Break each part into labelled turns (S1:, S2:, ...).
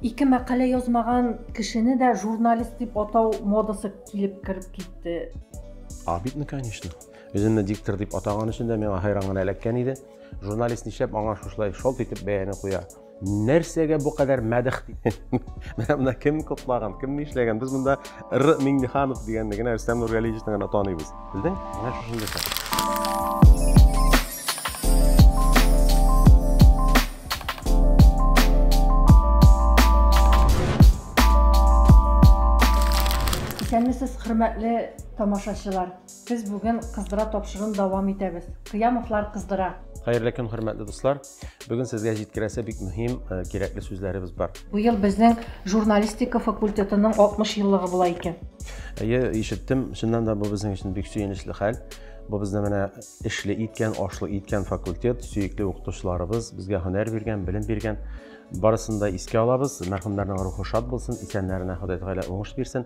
S1: Ике мәкалә язмаган кешене дә журналист дип атау модасы килеп кереп китте. А бит, ну,
S2: конечно. Үземне диктор дип атаган өчен дә миңа хайран гына эләккән иде. Журналист нишләп аңа шушлай шалт итеп бәяне куя? Нәрсәгә бу кадәр мәдәх дип? Менә монда кем котлаган, кем нишләгән? Без монда Р. Миңнеханов дигәнне генә, Рөстәм Нургалиевичны гына таныйбыз. Белдең? Менә шушындый хәл.
S1: Исәнмесез, хөрмәтле тамашачылар. Без бүген кыздыра тапшыруын дәвам итәбез. Кыямовлар кыздыра. Хәерле көн, хөрмәтле
S2: дуслар. Бүген сезгә җиткерәсе бик мөһим, э, кирәкле сүзләребез бар. Бу ел безнең
S1: журналистика факультетының 60 еллыгы була икән. Әйе, ишеттем,
S2: чыннан да бу безнең өчен бик сөенечле хәл. Бу безне менә эшле иткән, ашлы иткән факультет, сөекле укытучыларыбыз безгә һөнәр биргән, белем биргән. Барысын да искә алабыз. Мәрхүмнәрнең рухы шат булсын, исәннәренә Ходай Тәгалә уңыш бирсен.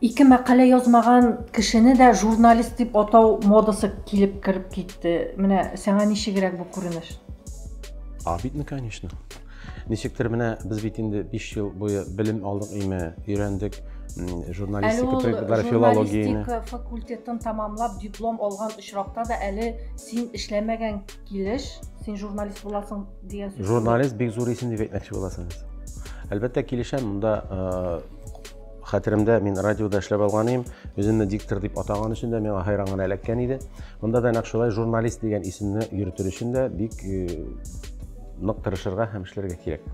S1: Ике мәкалә язмаган кешене дә журналист дип атау модасы килеп кереп китте. Менә сиңа ничегрәк бу күренеш?
S2: Абитны, конечно. Ничектер менә без бит инде 5 ел буе белем алдык име, өйрәндек журналистика предметлары филологияне. Журналистика факультетын
S1: тамамлап диплом алган очракта да әле син эшләмәгән килеш, син журналист буласың дигән сүз. Журналист бик зур исем дип
S2: әйтмәкче буласың. Әлбәттә килешәм, монда э, хәтеремдә мин радиода эшләп алган идем үземне диктор дип атаган өчен дә миңа хәйран гына эләккән иде монда да нәкъ шулай журналист дигән исемне йөртер өчен дә бик э, нык тырышырга һәм эшләргә кирәк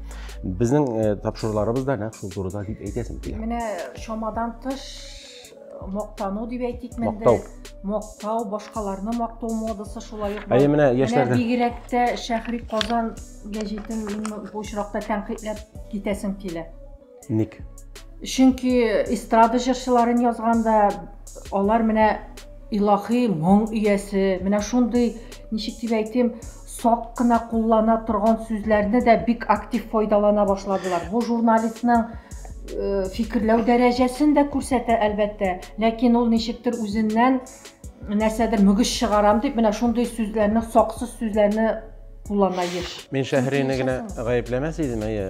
S2: безнең э, тапшыруларыбыз да нәкъ шул турыда дип әйтәсем килә менә
S1: чамадан тыш э, мактану дип әйтик мактау мактау башкаларны мактау модасы шулай ук әйе менә яшьләрдә
S2: бигрәк тә
S1: шәһри казан гәҗитен бу очракта тәнкыйтьләп китәсем килә Ник?
S2: Чөнки
S1: эстрада җырчыларын язганда алар менә илаһи моң иясе, менә шундый, ничек дип әйтим, сак кына куллана торган сүзләрне дә бик актив файдалана башладылар. Бу журналистның э, фикерләү дәрәҗәсен дә күрсәтә, әлбәттә, ләкин ул ничектер үзеннән нәрсәдер мөгез чыгарам дип менә шундый сүзләрне саксыз сүзләрне куллана еш мин шәһрияне
S2: генә гаепләмәс идем әйе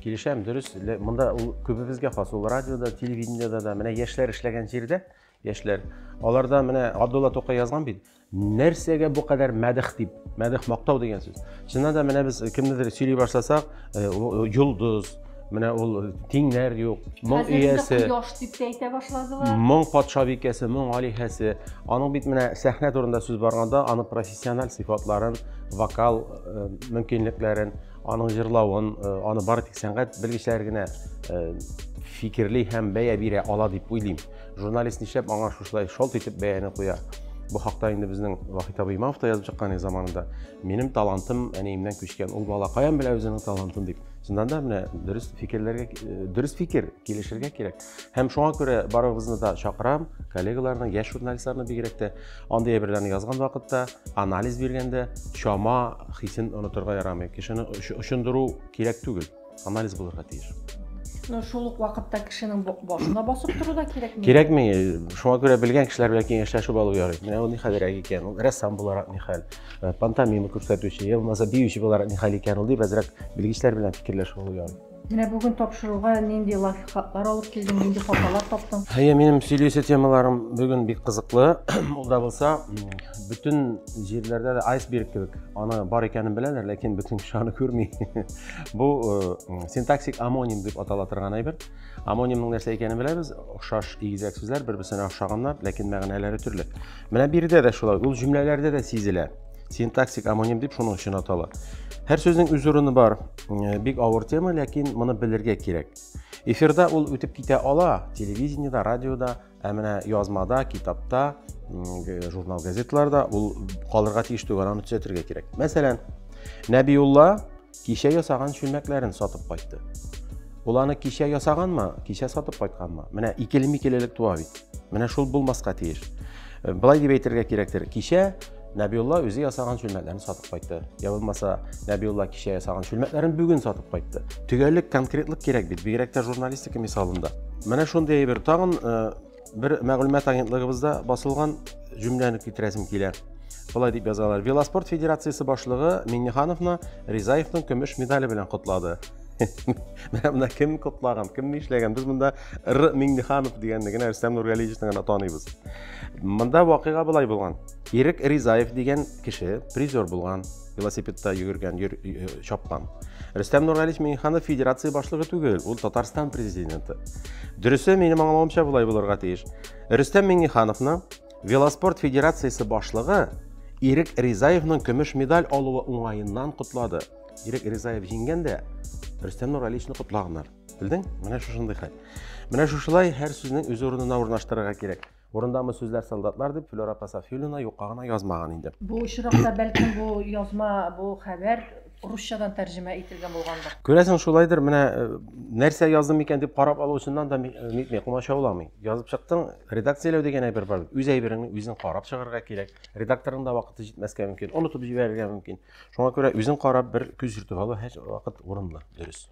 S2: килешәм дөрес монда ул күбебезгә хас ул радиода телевидениеда да менә яшьләр эшләгән җирдә яшьләр аларда менә абдулла тукай язган бит нәрсәгә бу кадәр мәдих дип мәдих мактау дигән сүз чыннан да менә без кемнедер сөйли башласак э, э, йолдыз Менә ул тиңнәр юк. Моң иясе. Кояш дип тә әйтә башладылар. Моң патша бикәсе, моң алиһәсе. Аның бит менә сәхнә турында сүз барганда, аны профессиональ сыйфатларын, вокал э, мөмкинлекләрен, аның җырлавын, э, аны бары тик сәнгать белгечләре генә э, фикерли һәм бәя бирә ала дип уйлыйм. Журналист нишләп аңа шушылай шолт итеп бәяне куя? Бу хакта инде безнең Вахит абый Имамов та язып чыккан заманында. Минем талантым әниемнән күчкән. Ул бала каян белә үзенең талантын дип. Шуннан да менә дөрес фикерләргә э, дөрес фикер килешергә кирәк. Һәм шуңа күрә барыгызны да чакырам, коллегаларны, яшь журналистларны бигрәк тә андый әйберләрне язган вакытта, анализ биргәндә чама хисен онытырга ярамый. Кешене очындыру кирәк түгел, анализ булырга тиеш. Ну, шул ук
S1: вакытта кешенең башына басып тору да кирәкми. Кирәкми. Шуңа
S2: күрә белгән кешеләр белән киңәшләшеп алу ярый. Менә ул ни хәлрәк икән, ул рәссам буларак ни хәл. э, пантомима күрсәтүче я булмаса биюче буларак ни хәл икән ул дип әзрәк белгечләр белән фикерләшеп алу Менә бүген
S1: тапшыруга нинди лайфхаклар алып килдең, нинди хаталар таптың? Әйе, минем сөйләүче
S2: темаларым бүген бик кызыклы. Ул да булса, бөтен җирләрдә дә айсберг кебек. Аны бар икәнен беләләр, ләкин бөтен кеше аны күрми. Бу э, синтаксик амоним дип атала торган әйбер. Амонимның нәрсә икәнен беләбез, охшаш игезәк сүзләр бер-берсенә охшаганнар, ләкин мәгънәләре төрле. Менә биредә дә шулай, ул җөмләләрдә дә сизелә. Синтаксик амоним дип шуның өчен атала. Һәр сүзнең үз урыны бар. Э, бик авыр тема, ләкин моны белергә кирәк. Эфирда ул үтеп китә ала, телевидениедә, радиода, Ә менә язмада, китапта, журнал газетларда ул калырга тиеш түгел, аны төзәтергә кирәк. Мәсәлән, Нәбиулла кичә ясаган чүлмәкләрен сатып кайтты. Ул аны кичә ясаганмы, кичә сатып кайтканмы? Менә икеле-микелелек туа бит. Менә шул булмаска тиеш. Былай дип әйтергә кирәктер. Кичә Нәбиулла үзе ясаган чүлмәкләрен сатып кайтты. Я булмаса, Нәбиулла кичә ясаган чүлмәкләрен бүген сатып кайтты. Төгәллек, конкретлык кирәк бит, бигрәк тә журналистика мисалында. Менә шундый әйбер тагын э, бер мәгълүмат агентлыгыбызда басылган җөмләне китерәсем килә. Болай дип язалар. Велоспорт федерациясе башлыгы Миннихановны Ризаевның көмеш медале белән котлады. Менә монда кем котлаган, кем ни эшләгән? Без монда Р Минниханов дигәнне генә Рөстәм Нургалиевичны гына таныйбыз. Монда вакыйга былай булган. Ирек Ризаев дигән кеше призер булган велосипедта йөгергән йөр, чапкан рөстәм нургалиевич миңнеханов федерация башлыгы түгел ул татарстан президенты дөресе минем аңлавымча болай булырга тиеш рөстәм миңнехановны велоспорт федерациясе башлыгы ирек ризаевның көмеш медаль алуы уңаеннан котлады ирек ризаев җиңгән дә рөстәм нургалиевичны котлаганнар белдең менә шушындый хәл менә шушылай һәр сүзнең үз урынына урнаштырырга кирәк Урындамы сүзләр солдатлар дип Флюра апа Сафиуллина юкка гына язмаган инде. Бу очракта бәлкем
S1: бу язма, бу хәбәр русчадан тәрҗемә ителгән булгандыр. Күрәсең шулайдыр, менә э,
S2: нәрсә яздым икән дип карап алучыннан да э, нитми, комачауламый. Язып чыктың, редакцияләү дигән әйбер бар. Үз әйбереңне үзең карап чыгарга кирәк. Редакторның да вакыты җитмәскә мөмкин, онытып җибәрергә мөмкин. Шуңа күрә үзең карап бер күз йөртеп алу һәр вакыт урынлы, дөрес.